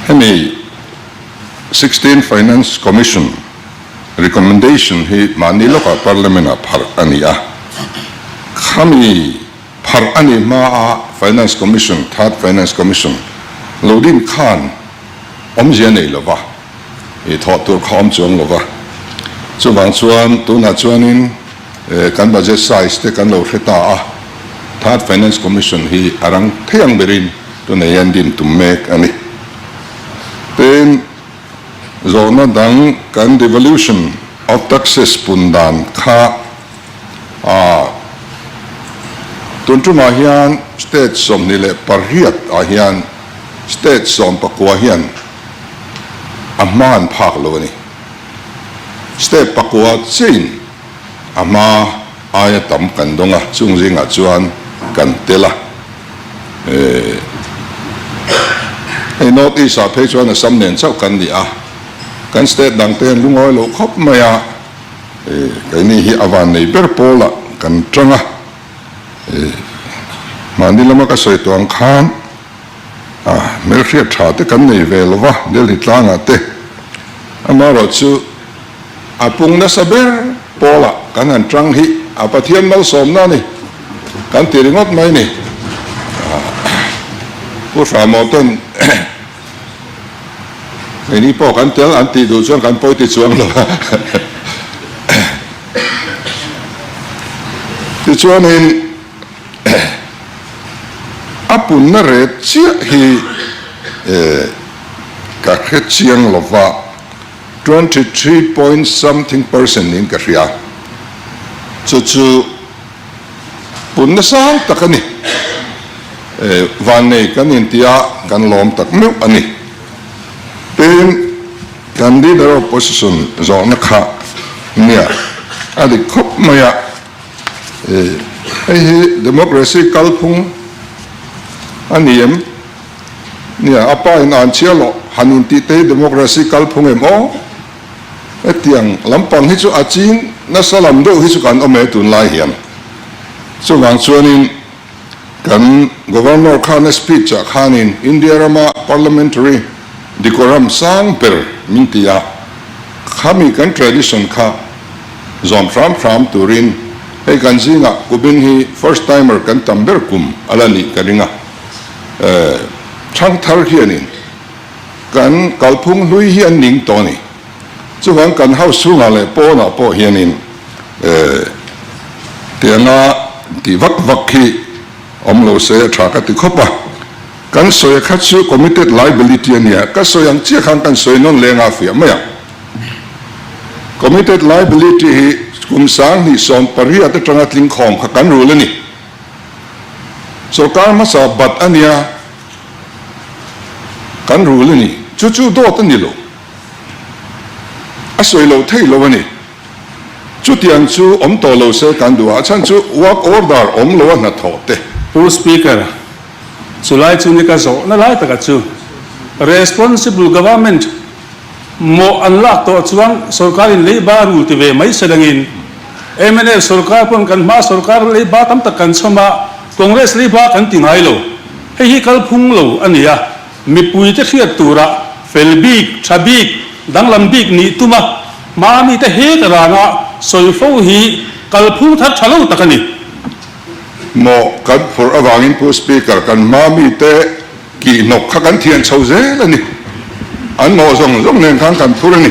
Hemi sixteen Finance Commission recommendation hi mahni lawkah Parliament ah pharh a ni a. Khami pharh a nih hma a Finance Commission, Third Finance Commission, lo din khan awmzia nei lo va. I thawh tur kha awm chuang lo va. Chuvang chuan tunah chuanin kan budget size te kan lo hre ta a, Third Finance Commission hi a rang thei ang berin tunah hian din tum mek a ni. Tin, zawhna dang kan Devolution of Taxes pun dan kha a tun tumah hian state sawmhnih leh pariat ah hian state sawmpakua hian a hma an phak lo a ni. Step pakua chiahin a hma aia tam kan dawng a, chung zingah chuan kan tel a. Hei North East ah phei chuan a sam nen chauh kan ni a, kan state dang te an lu ngawi lo khawp mai a, keini hi a van nei ber pawlah kan tang a, mahni lama ka sawi tuang khan, A hmel hriat tha te kan nei ve lova Delhi tlangah te. Amaherawh chu a pung nasa ber Paula kan han tang hi a Pathian malsawmna a ni kan ti ringawt mai ni. Pu Hramawh ten keini pawh kan tel an tih duh chuan kan pawi ti chuang lo a. Tichuanin. A punna ret chiah hi ka hre chiang lo va, twenty three point something percent niin ka hria. Chu chu punna sang tak a ni. Vannei kan inti a, kan lawm tak meuh a ni. Tin, kan Leader of Opposition zawhna kha nia a dik khawp mai a. Hei hi democracy kalphung a ni em? Nia, a pa in an chhiar lo, han intih te hi democracy kalphung em aw? Hetiang lampang hi chu a ching nasa lam deuh hi chu kan awm e tunlai hian. Chuvang chuanin. Kan Governor khan speech ah khanin India rama Parliamentary decorum sang ber min ti a, khami kan tradition kha zawm hram hram turin hei kan zingah Kubin hi first timer kan tam ber kum a la nih ka ring a. Thangthar hianin kan kalphung hlui hi an ning tawh a ni. Chuan kan hau chhungah leh pawnah pawh hianin eeh tih anga tih vak vak hi awm lo se a tha ka ti khawp a. Kan sawi kha chu committed liability a nia, ka sawi ang chiah khan kan sawi nawn leng a fiah mai ang. Committed liability hi kum sang hnih sawm pariat atanga tling khawm kha kan rul a ni. Sorkar hmasa bat a nia kan rul a ni. Chu chu dawt a ni lo. A sawi lo thei lo a ni. Chutiang chu awm tawh lo se kan duh ah chhan chu work order awm lo a hnathawh te. Pu Speaker, chulai chu ni ka zawh na lai taka chu responsible government mawh an lak tawh chuan sorkar in lei ba rul ti ve mai se dang in mnf sorkar pawn kan hma sorkar lei ba tam tak kan chhawm a congress lei ba kan ti ngai lo hei hi kal phung lo a ni a. Mipui te hriat tura fel bik, tha bik, danglam bik nih tuma hma mite hek ranga sawi fo hi kalphung thar tha lo tak a ni. Mawh kan phurh avangin pu Speaker kan hma mite kihhnawk kha kan thian chho zel a ni. An mawh zawng zawng nen khan kan phur a ni.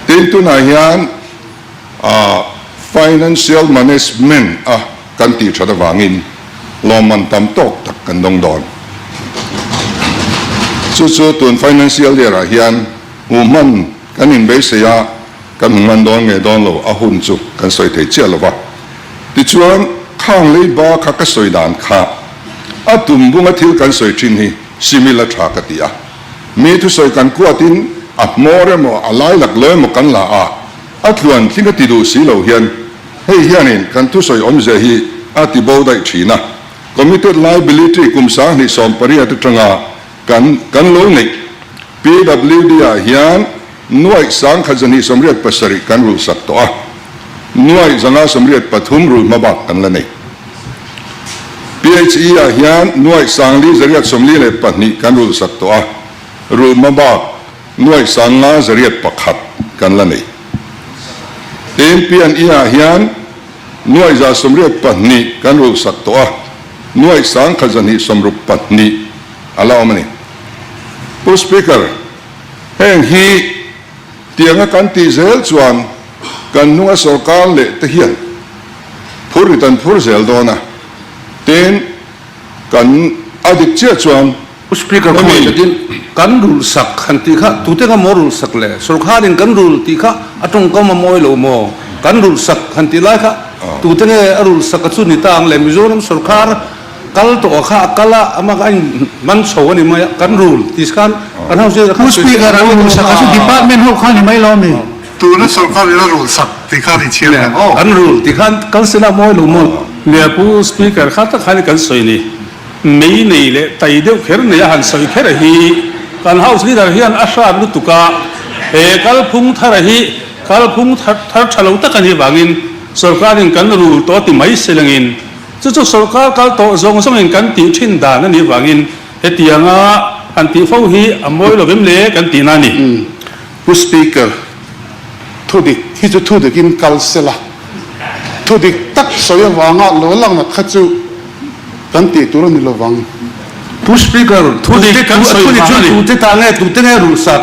Tin tunah hian. a financial management a kan tih that avangin lawmman tam tawk tak kan dawng dawn. Chu chu tun financial year ah hian hmuh hman kan inbeisei a kan hmu ngan dawn nge dawn lo a hun chu kan sawi thei chiah lova. Tichuan khang lei ba kha ka sawi dan kha a tum bunga thil kan sawi thin hi similar tha ka ti a. Mi thu sawi kan kuat in a hmawr emaw a lailak lo emaw kan la a, a tluan tling a ti duh si lo hian hei hian in kan thu sawi awmzia hi a ti bo daih thin a. Committed liability kum sanghnih sawm pariat atanga kan kan lo neih PWD ah hian, Nuaih sang khat zahnih samriat pasarih kan rul sak tawh a, nuaih zanga samriat pathum rul hma bak kan la nei. PHE ah hian nuaih sang li zariat sawmli leh pahnih kan rul sak tawh a, rul hma bak nuaih sang nga zariat pakhat kan la nei. Tiin PNE ah hian nuaih za sawmriat pahnih kan rul sak tawh a, nuaih sang khat zahnih sawmruk pahnih a la awm a ni. Pu Speaker, Heng hi tianga kan tih zel chuan kan hnunga sorkar leh te hian phur rit an phur zel dawn a, tin kan a dik chiah chuan Speaker khawmai takin kan rul sak han tih kha tute ka maw rul sak le sorkar in kan rul tih kha a tawngkam a mawi lo maw kan rul sak han tih lai kha tute nge a rul sak a chu ni ta ang le Mizoram sorkar Kal tawh a kha a kal a, ama kha a in hman chho a ni mai a, kan rul ti se khan kan ho zir khan sawi sak a ni mai lo a. Department ho kha a ni mai lo a mi. Tuna sorkar in a rul sak ti khan i chhiar hle maw? Kan rul ti khan kan sin a mawi lo maw? Nia pu speaker kha tak khan i kan sawi ni. Mei nei leh tai deuh kher neia han sawi kher a hi kan house leader hian a hrat lutuk a, he kalphung thar a hi kalphung thar tha lo tak a ni vangin sorkar in kan rul tawh a ti mai silengin Chu chu sorkar kal tawh zawng zawngin kan tih thin dan a nih vangin hetianga han tih fo hi a mawi lo em le kan tihna a ni. Pu Speaker, thu dik hi chu thu dikin kal se la, thu dik tak sawi avanga lo lakna kha chu kan tih tur a ni lovang. Pu Speaker, thu dik kan sawi vang a ni. Thu dik chu tute ta nge, tute nge ruhsak?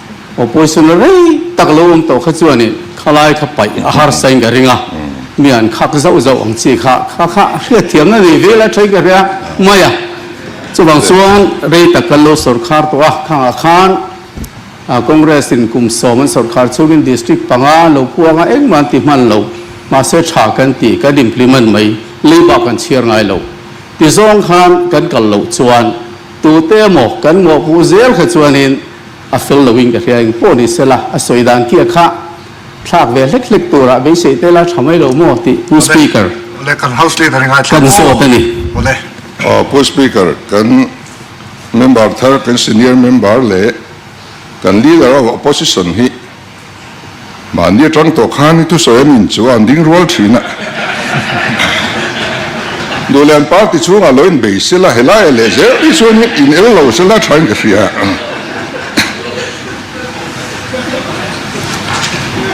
Opposition a rei tak lo awm tawh kha chuanin khalai kha paih a harsa in ka ring a, mi an khak zauh zauh ang chi kha kha kha hriatthiamna nei vel a thain ka hria mai a, chuvang chuan rei tak kan lo sawrkhar tawh a, khangah khan Congress in kum sawm an sawrkhar chungin district panga an lo puang a, engmah an ti hman lo, mahse tha kan ti kan implement mai, leiba kan chhiar ngai lo ti zawng khan kan kal loh chuan tute emaw kan mawhpuh zel kha chuanin, A fel lo in ka hria eng pawh ni sela, a sawi dan kiah kha thlak ve hlek hlek turah beisei te la tha mai lo maw tih Pu Speaker kan zawt a ni. Pu Speaker, kan Member thar, kan Senior Member leh kan Leader of Opposition hi, Mahni atang tawh khan i thusawi an in chu a han ding rual thin a. Duhlian party chhungah lo in bei sela helai a leh zel hi chuan in in el lo sela tha in ka hria a.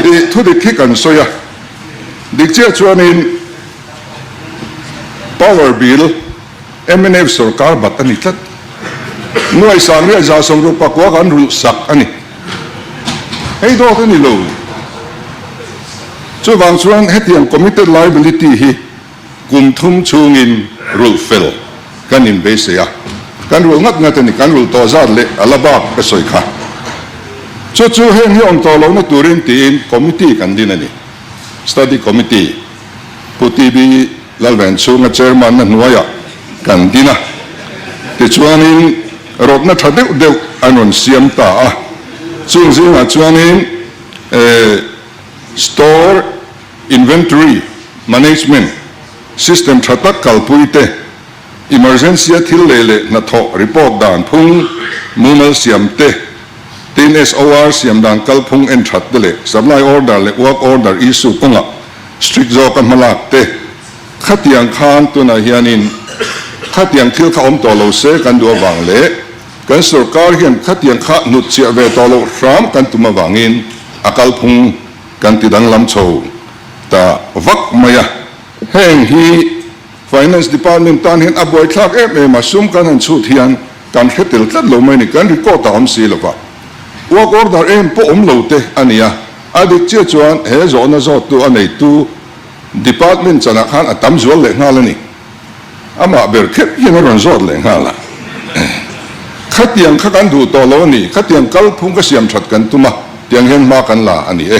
I thudik hi kan sawi a, dik chiah chuan in power bill, MNF sorkar bat a ni tlat. Hnuai sang riah za sawmru pakua kan ruh sak a ni. Hei dawt a ni lo. Chuvang chuan hetiang committed liability hi kum thum chungin ruh fel kan in beisei a. Kan ruh ngat ngat a ni. Kan ruh tawh zat leh a la bak ka sawi kha. Chu chu heng hi awm tawh lohna turin tiin committee kan din a ni. Study committee. Pu TB Lalvenchunga Chairman-na hnuaiah kan din a, tichuanin rawtna tha deuh deuh an rawn siam ta a, chung zingah chuanin Store Inventory Management System tha tak kalpuite, Emergency a thil leh leh hnathawh report dan phung, mumal siam te, tin SOR siam dan kal phung en that te leh supply order leh work order issue kawnga strict zawk a hmalak te. Khatiang khan tunah hianin khatiang thil kha awm tawh lo se kan duh avang leh kan sorkar hian khatiang kha hnutchiah ve tawh loh hram kan tum avangin a kal phung kan ti danglam chho ta vak mai a. Heng hi. Finance Department tan hian a buaithlak em em a, sum kan han chhut hian kan hre tel tlat lo mai ni, kan record a awm si lova, work order em pawh awm lo te a ni a, a dik chiah chuan he zawhna zawttu a neitu Department chanah khan a tam zual leh nghal a ni, amah ber khep hian a rawn zawt leh nghal a, khatiang kha kan duh tawh lo a ni, khatiang kalphung ka siam that kan tum a, tiang hian hma kan la a ni e.